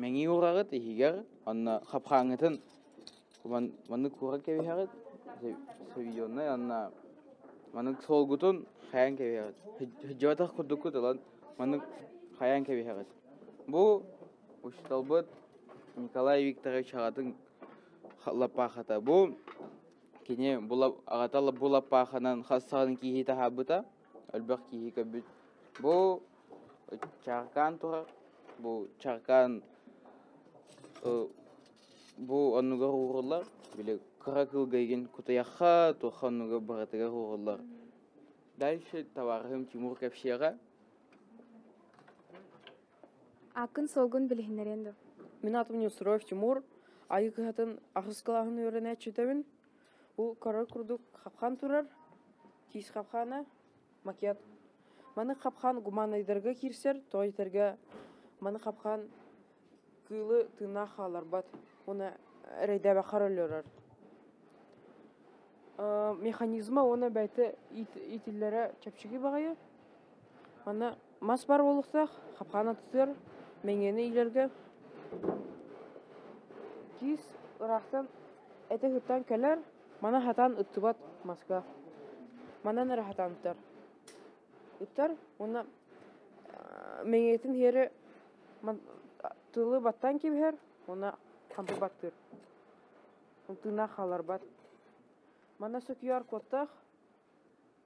Мэҥии ураҕыт иһигэр онно хапхааҥҥытын куман маннык куорат кэбиһэҕит савизионнай онно маннык суолгутун хайан кэбиһэҕит сылдьыбатах курдуккут ылан маннык хайан кэбиһэҕит бу учууталбыт Николай Викторович аҕатын лаппаахата бу кини бу лап аҕата бу лаппааханан хас саҕана киирии таһаарбыта Өлбөх киһи көбүт. Бу чаркаан турар. Бу чаркаан бу оннугар ууруллар. Били кыра кылга игин кутуяхха, туха оннугар барытыгар ууруллар. Дальше товарыһым Тимур кепшеға. Аккын солгун билиһиннерен ду. Мин атым Нюсров Тимур. Айы кыһатын ахыс кылаһын үөренэ чүтөбүн. Ол көрөр курдук хапхаан турар, тиис хапхаана, макет. Маны хапхаан гуманайдарга киирсэр, тоҕо диэтэргэ маны хапхаан кыылы тыыннаах хааларбат уонна эрэйдээбэк харалльорор. механизма уонна бэйэтэ иитиллэрэ чэпчэки баҕайы. Маны Мас бар буолуохтаах, хапхаан атытыар, мэҥиэни иилэргэ киис ыраахтан этэ сыттан кэлэр, маны хатан ыттыбат маска. Манан эрэ хатан ыттар. Ыттар уонна мэҥиэтин иһэри тылы баттан кибиһэр уонна хампы баттыыр. Тыына хааларбат. Манна сөтүйэр куоттаах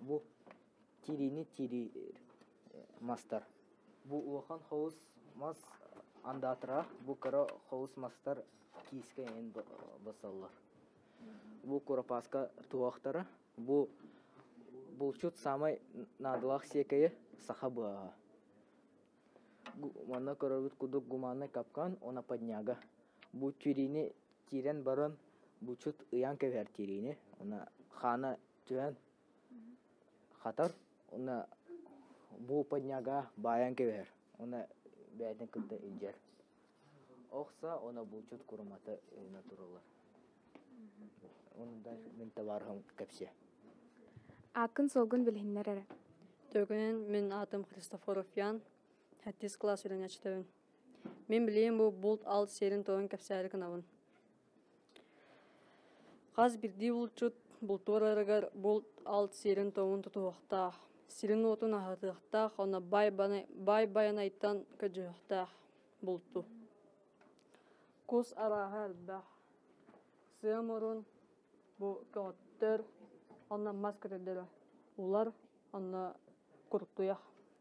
бу тириини тириир мастар. Бу улахан холус мас андаатара бу кыра холус мастар киискэ эйин басаллар. Бу куропааска туохтара бу булчут самый наадалаах сиэкэйи саха быаһа. Манна көрөрбүт кудук гуманный капкан она подняга. Бу тириини тирен баран булчут ыян кэбэр тириини она хаана түһэн хатар уна буупанньага баайан кэбиһэр уна бэйэтин кытта илдьэр охса уна булчут курумата өйүнэ туралар онундай мин табаарыһым кэпсиэ ааккын суолгун билиһиннэр эрэ Төгүн мин атым Христофоров Ян, 7 класс үлэнэчтөбүн. Мин билиим бу булт ал сиэрин тойун кэпсээри кынабын. Хас биирдии булчут бултуурарыгар булт алт сиэрин-туомун тутуһуохтаах, сирин-уотун аһатыахтаах, онно баайбаны баайбайанайтан көдьүһүөхтээх булту. Кус арааһа элбэх. Сыам урун бу көҕөттөр, онно мас көтөллөрө улар, онно куруктуйах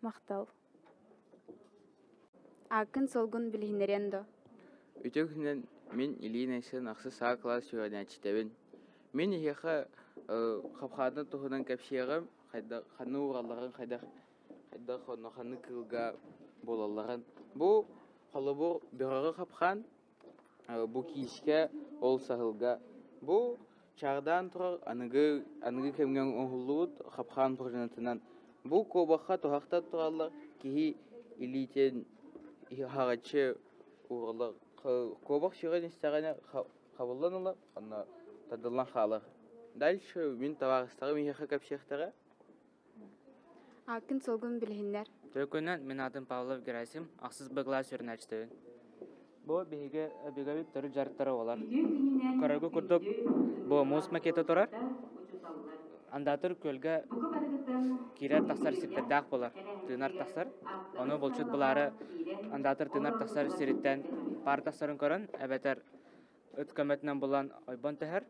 Махтал. Ааккын-суолгун билиһиннэриэн дуо? Үтүө күнүнэн мин Ильин Айсен ахсы саа кылаас үөрэнээччитэбин. Мин эһиэхэ хапхаатын туһунан кэпсиэҕим, хайдах ханна ууралларын, хайдах хайдах онно ханнык кыылга буолалларын. Бу холобур бөҕөҕө хапхаан, Бу киискэ, ол саһылга. Бу чаадаан турар аныгы, аныгы кэмҥэ оҥоһуллубут хапхаан порожнотунан. Бу куобахха туһахтан тураллар, киһи илиитин аһаҕаччы уураллар. Куобах сүрэн истэҕинэ хабыллан ылар, онно тардыллан хаалар. Дальше мин табаарыстарым эһиэхэ кэпсиэхтэрэ Аккин сылгын билиһиннэр. Төлкөнөн мин аатым Павлов Герасим, ахсыс быгла сүрүнээччитибин. Бу биһиги бигабит төрүт дьарыктара болар. Көрөргө курдук, бу муус макета турар, андатыр көлгө киирэр тахсар сирдэрдээх болар. Тыынар тахсар, ону булчут булаары андатыр тыынар тахсар сириттэн паар тахсарын көрөн, эбэтэр ыт көмөтүнэн булан ойбон тэһэр,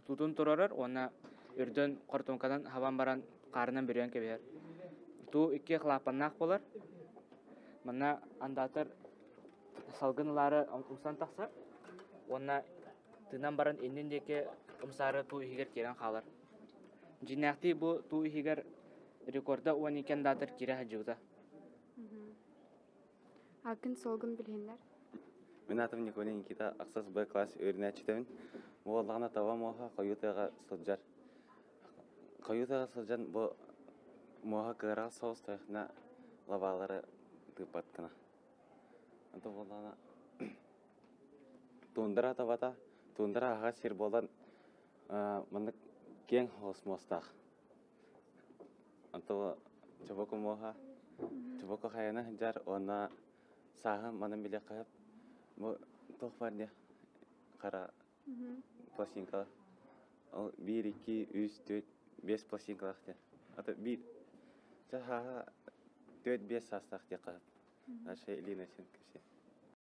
туутун туруорар уонна үрдүн хортуоҥканан хабан баран хаарынан бүрүйэн кэбиһэр. Туу икки халаапаннаах буолар. Манна андаатар салгын ылаары умсан тахсар уонна тыынан баран иннин диэки умсаары туу иһигэр киирэн хаалар. Дьиnnээхтии бу туу иһигэр рекорда уон икки андаатар киирэ сылдьыбыта. Аккин-солгун билиһиннэр. Мин атым Николай Никита, ахсас Б класс үөрүнээччитэбин. Бу буоллаҕына таба муоһа хойутыаҕа сылдьар. Хойутыаҕа сылдьан бу муоһа кыараҕас соҕус тойхна лабаалары тыыппаткына. Антон буоллаҕына туундара табата, туундара аһа сир буолан маннык кең холос муостаах. Онтон чобо кумуоха, чобо кохайана сылдьар уонна сааһым манан билиэх хаһыт бу туох бар диэх хара пластинка ол биир икки үс түөрт биэс пластинкалаах диэн ата биир ча сааһа түөрт биэс саастаах диэх хаһыт Наша Илина син киси